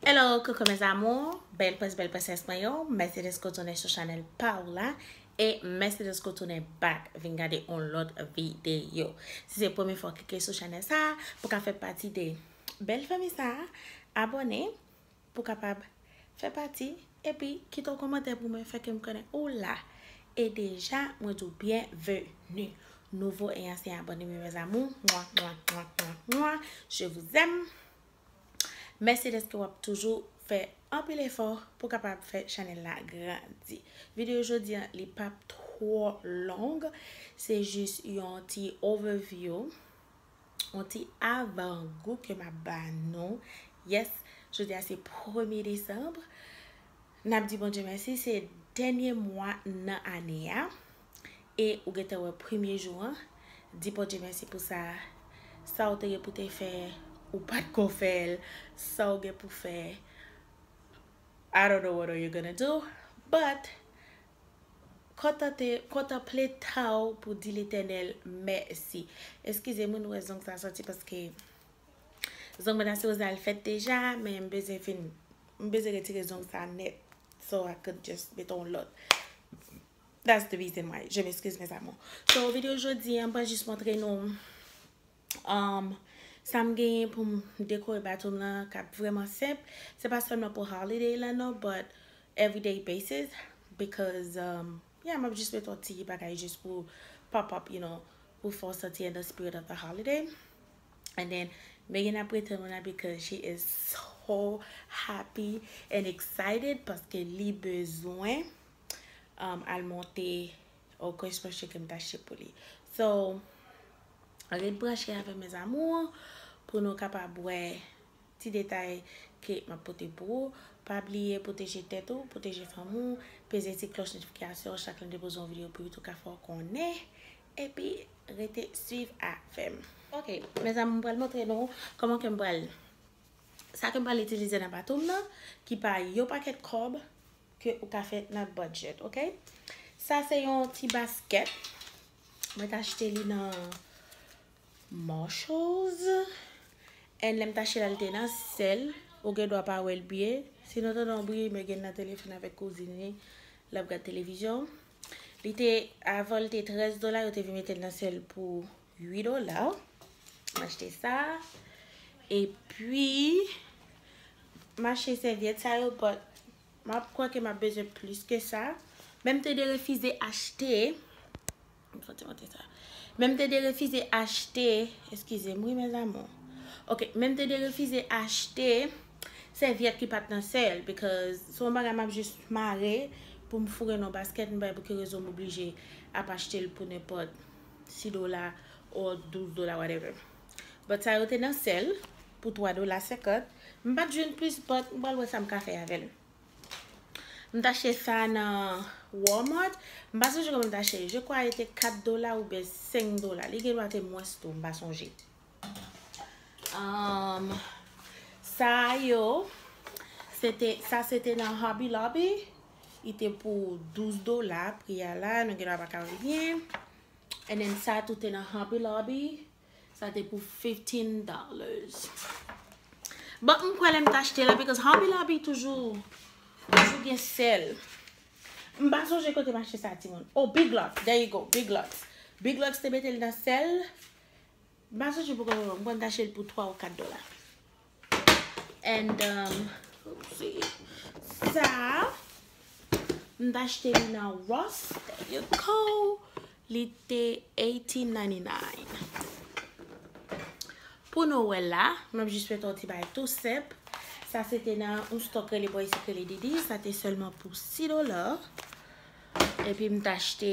Hello coucou mes amours, bèl prens bèl prensès mwen yo, mèsi deske w tounen sou chanèl pa w la e mèsi deske w tounen back vin gade yon lòt videyo. Si se premye fwa w klike sou chanèl sa, pou w ka fè pati de bèl fanmi sa, abòne pou w kapab fè pati epi kite yon kòmantè pou mwen fè ke m konnen ou la. E deja mwen di w byenveni nouvo e ansyen abòne m yo mes amours, mwa mwa mwa mwa mwa je vous aime. Mèsi dèske wap toujou fè anpil efò pou kapab fè chanèl la grandi. Videyo jodi an li pap twò long, se jis yon ti overview, yon ti avan gou ke map ba nou. Yes, jodi a se premye desanm, nap di Bondye mèsi se dènye mwa nan ane a. E ou gentan wè premye jou an, di Bondye mèsi pou sa, sa ou te gen pou te fè ou pat ko fèl, sa ou gen pou fè I don't know what are you gonna do, but kontante, kontanple tan ou pou di Letènèl mèsi. Eskize mwen nou wè zong sa sòti paske zong mwen ta sipoze al fèt deja men m bezwen fin, m bezwen retire zong sa nèt so I could just mete yon lòt. That's the reason why. Je m'excuse mes amours. So video jodi an mwen jis montre nou um sa m genyen pou m dekore bato m lan k ap vrèman senp. Se pa sèlman pou holiday lan non but everyday basis because um yeah m ap jis mete yon ti bagay jis pou pop up you know pou fè w santi in the spirit of the holiday. And then Megan ap rete mwen la because she is so happy and excited paske li bezwen. al monte ou kwen sponche kem ta chete pou li so ret branche avèm mes amours pou nou kapab wè ti detay ke map pote pou ou pa bliye pwoteje tèt ou pwoteje fanmi ou peze ti kloch notifikasyon chak lèm depoze yon video pou youtube ka fè ou konnen epi rete swiv avèm ok mes amours m pral montre nou kòman kem pral sa kem pral itilize nan batom nan ki pa yon pakèt kòb ke ou ka fè nan budget ok. Sa se yon ti basket mwen t achte li nan Marshalls and lèm t achte l al te nan sèl ou gen dwa pa wèl byen si nou tande yon bri mwen gen nan telefòn avèk kouzin li lap gad televizyon li te avan li te 13 dola yo te vin metel nan sèl pou 8 dola m achte sa epi m achte sèvyèt sa yo but m ap kwè ke m ap bezwen plis ke sa men m te derefize achte men m te derefize achte eskize m wi mes amour ok men m te derefize achte sèvyèt ki pat nan sèl because se yon bagay m ap jis mare pou m foure nan yon basket m pa wè pou ki rezon m oblije ap achte l pou nenpòt 6 dola or 12 dola whatever but sa yo te nan sel pou 3 dola 50 m pat jwenn plis but m pral wè sam ka fè avèl m t achte sa nan walmart m pa sonje konbyen m t achte je kwa li te 4 dola oubyen 5 dola li gen dwa te mwens tou m pa sonje umm sa yo se te sa se te nan hobby lobby Li te pou 12 dola pri a la nou gendwa pa ka wè byen and then sa tou te nan Hobby Lobby sa te pou 15 dollars bon m kwè lè m t achte la because Hobby Lobby toujou toujou gen sèl m pa sonje kote m achte sa ti moun oh Big Lots there you go Big Lots Big Lots te mete l nan sèl m pa sonje pou konbyen m konn m t achte l pou 3 ou 4 dola And sa a m t achte li nan Ross there you go li te 1899 Pou nou wè la m ap jis fè yon ti bagay tou senp Sa se te nan yon stock rele bò isit rele Didi sa te sèlman pou 6 dola epi m t achte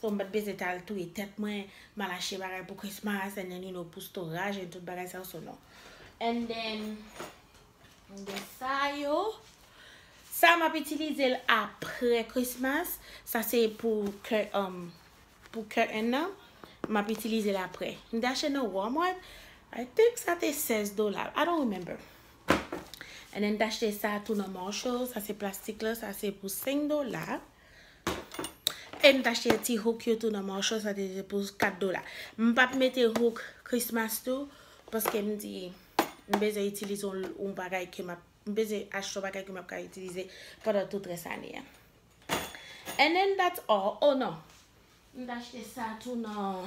So mpat bezwen tal touye tèt mwen, mal achte bagay pou Christmas and then you know pou storage and tout bagay sa yo so non. And then de sa yo, sa map itilize l apre Christmas, sa se pou curtain nan, map itilize l apre. M te achte nan Walmart, I think sa te 16 dola, I don't remember. And then m te achte sa tou nan Marshall, sa se plastik la, sa se pou 5 dola. E m t achte ti hook yo tou nan Marshall sa te pou 4 dola. M pa t mete hook Christmas tou paske m di m bezwen itilize yon bagay ke m ap m bezwen achte yon bagay ke m ap ka itilize pandan tout rès ane a. And then that's all. Oh non! M t achte sa tou nan.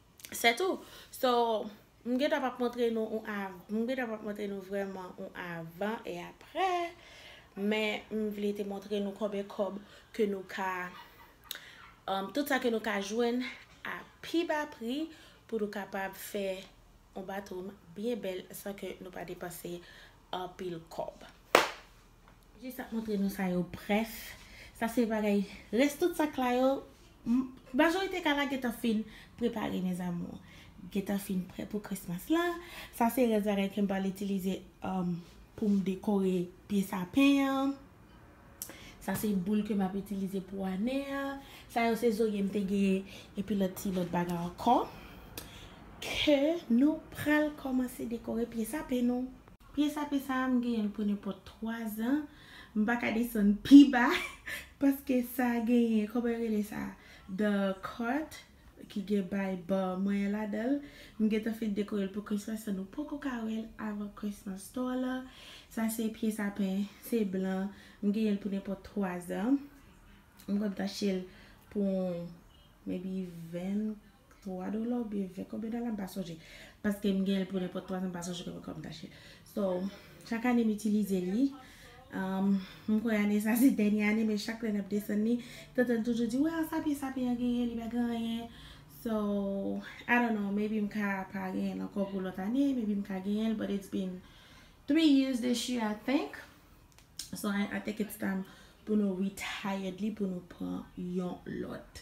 Se tou. So, m gen tan pa montre nou yon av, m gen tan pa montre nou vreman yon avan e aprè, men m vle te montre nou konbyen kob ke nou ka, tout sa ke nou ka jwenn a pi ba pri pou nou kapab fè yon bathroom byen bèl san ke nou pa depanse anpil kob. Jis ap montre nou sa yo brèf sa se bagay rès tout sak la yo majorite ka la gentan fin prepare mes amours gentan fin prè pou christmas la sa se rès bagay kem pral itilize poum dekore pye sapin an sa se boul ke map itilize pou ane a sa yo se zorye m te gen epi lòt ti lòt bagay ankò ke nou pral kòmanse dekore pye sapin nou. Pye sape sa a m genyen l pou nenpòt 3 zan. M pa ka desann pi ba paske sa genyen, kòman yo rele sa, the cart ki gen bay ba mwen an ladan l. M gentan fin dekore l pou Christmas so nou poko ka wè l avan Christmas store la. Sa se pye sapen, se blan. M genyen l pou nenpòt 3 zan. M konn tache l pou maybe 20. 3 dola ou byen 20 konbyen dola m pa sonje paske m genl pou nenpòt 3 an m pa sonje konbyen kòm tache so chak ane m itilize li m kwè ane sa se dènye ane men chak lè n ap desann li tante l toujou di wè a sa pi sa pi an genyen li pa gen anyen so I don't know maybe m ka pa genyen l ankò pou lòt ane maybe m ka genyen l but it's been 3 years this year I think so I think it's time pou nou retired li pou nou pran yon lòt.